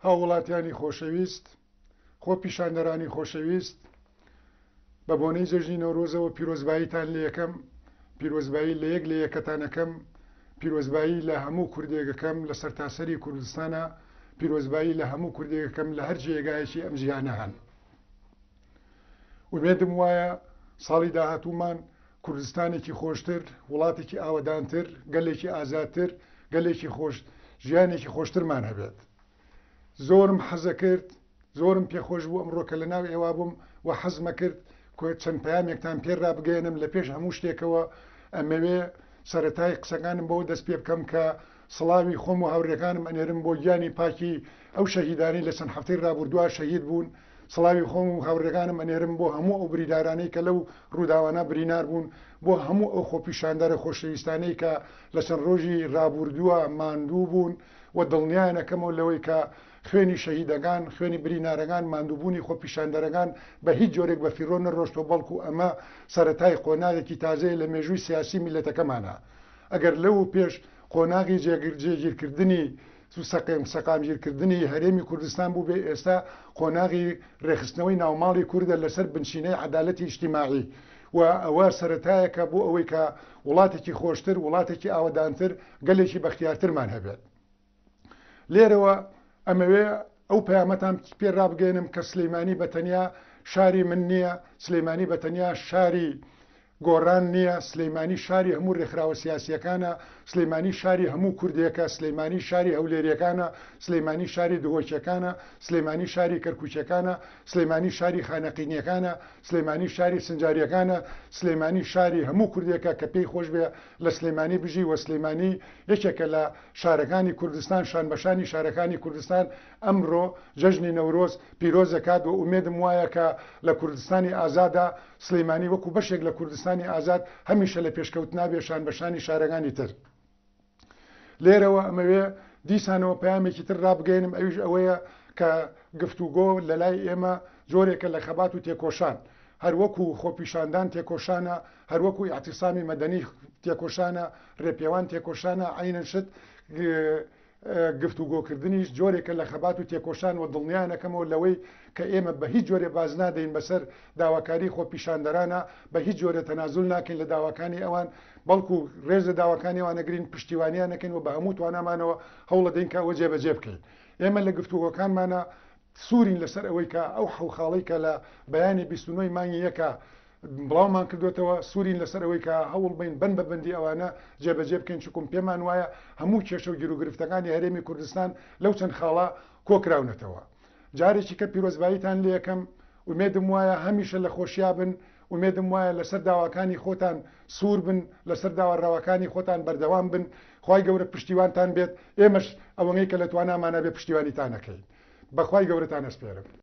هاووڵاتیانی خۆشەویست خۆ پیشاندەرانی خۆشەویست بە بۆنەی جەژنی نەورۆزەوە پیرۆزباییتان لە یەکەم پیرۆزبایی لە یەک لە یەکەتانەکەم پیرۆزبایی لە هەموو کوردێگەکەم لە سەرتاسەری کوردستانە پیرۆزبایی لە هەموو کوردێگەکەم لە هەر جێگایەکی ئەم جیهانە هەن. ئومێدم وایە ساڵی داهاتوومان کوردستانێکی خۆشتر، وڵاتێکی ئاوەدانتر، گەلێکی ئازادتر، گەلێکی خۆش ژیانێکی خۆشترمان هەبێت. زۆرم حەزەکرد، زۆرم پێخۆش بوو ئەمڕۆ کە لەناو ئێوە بووم و حەزمەکرد چەند پەیامێکتان پێ رابگەیەنم، لە پێش هەموو شتێکەوە ئەمەوێ سەرەتای قسەکانم بەوە دەست پێ بکەم کە سڵاوی خۆم و هاورێکانم ئەنێرم بۆ گیانی پاکی ئەو شەهیدانەی لە چەند هەفتەی رابوردوا شەهید بوون، سڵاوی خۆم و هاوڕێکانم ئەنێرم بۆ هەموو ئەو بریدارانەی کە لەو ڕووداوانە برینار بوون، بۆ هەموو ئەو خۆپیشاندەرە خۆشەویستانەی کە لە چەند ڕۆژی ڕابووردووە ماندوو بوون و دڵنیایان ئەکەمەوە لەوەی کە خوێنی شەهیدەکان، خوێنی برینارەکان، ماندووبوونی خۆپیشاندەرەکان بە هیچ جۆرێک بە فیڕۆ نەڕۆشتووە بەڵکو ئەمە سەرەتای قۆناغێکی تازەیە لە مێژووی سیاسی میللەتەکەمانا ئەگەر لەوەوپێش قۆناغی جێگیر کردنی سەقم، سەقامگیرکردنی هەرێمی کوردستان بووبێ، ئێستا قۆناغی رێکخستنەوەی ناوماڵی کوردە لەسەر بنچینەی عەدالەتی ئیجتیماعی و ئەوە سەرەتایەکە بۆ ئەوەی کە وڵاتێکی خۆشتر، وڵاتێکی ئاوەدانتر، گەلێکی بەختیارترمان هەبێت. لێرەوە ئەمەوێ ئەو پەیامەتان پێ رابگەینم کە سلیمانی بە تەنیا شاری من نییە، سلیمانی بە تەنیا شاری گۆڕان نییە، سلیمانی شاری هەموو رێکخراوە سیاسییەکانە، سلیمانی شاری هەموو کوردێکە، سلیمانی شاری هەولێرییەکانە، سلیمانی شاری دهۆکییەکانە، سلیمانی شاری کەرکوکییەکانە، سلیمانی شاری خانەقینییەکانە، سلیمانی شاری سنجارییەکانە، سلیمانی شاری هەموو کوردێکە کە پێی خۆش بێ لە سلیمانی بژی و سلیمانی یەکێکە لە شارەکانی کوردستان شانبەشانی شارەکانی کوردستان ئەمرۆ جەژنی نەورۆز پیرۆزەکات وە ئومێدم وایە کە لە کوردستانی ئازادا سلیمانی وەکو بەشێک لە کوردستانی ئازاد هەمیشە لە پێشکەوتنابێ شانبەشانی شارەکانی تر لێرەوە ئەمەوێ دیسانەوە پەیامێکی تر رابگەینم ئەویش ئەوەیە کە گفتوگۆ لەلای ئێمە جۆرێکە لە خەبات و تێکۆشان هەروەکو خۆپیشاندان تێکۆشانە هەر وەکو ئیعتیسامی مەدەنی تێکۆشانە، رێپێوان تێکۆشانە، عەینەن شت گفتوگۆکردنیش جۆرێکە لە خەبات و تێکۆشان و دڵنیانەکەمەوە لەوەی کە ئێمە بە هیچ جۆرێ باز نادەین بەسەر داواکاری خۆپیشاندەرانە، بە هیچ جۆرێ تەنازول ناکەین لە داواکانی ئەوان، بەڵکو رێز لە داواکانی ئەوان ئەگرین، پشتیوانیان ئەکەین و بە هەموو توانامانەوە هەوڵەدەین کە ئەوە جێبەجێ بکەین. ئێمە لە گفتوگۆکانمانا سوورین لەسەر ئەوەی کە ئەو حەو خاڵەی کە لە بەیانی بیست و نۆ ی مانگی یەکا بڵاومان کردووەتەوە، سوورین لەسەر ئەوەی کە هەوڵ بەین بەند بە بەندی ئەوانە جێبەجێ بکەین، چوکم پێمان وایە هەموو کێشە و گیروگرفتەکانی هەرێمی کوردستان لەو چەند خاڵە کۆکراونەتەوە. جارێکی کە پیرۆزباییتان لێ ئەکەم، ئومێدم وایە هەمیشە لە خۆشیا بن. ئومێدم وایە لەسەر داواکانی خۆتان سوور بن لەسەر داوا رەواکانی خۆتان بەردەوام بن خوای گەورە پشتیوانتان بێت ئێمەش ئەوەنەی کە لە توانامانە بێ پشتیوانیتان ئەکەین بەخوای گەورەتان ئەسپێرم.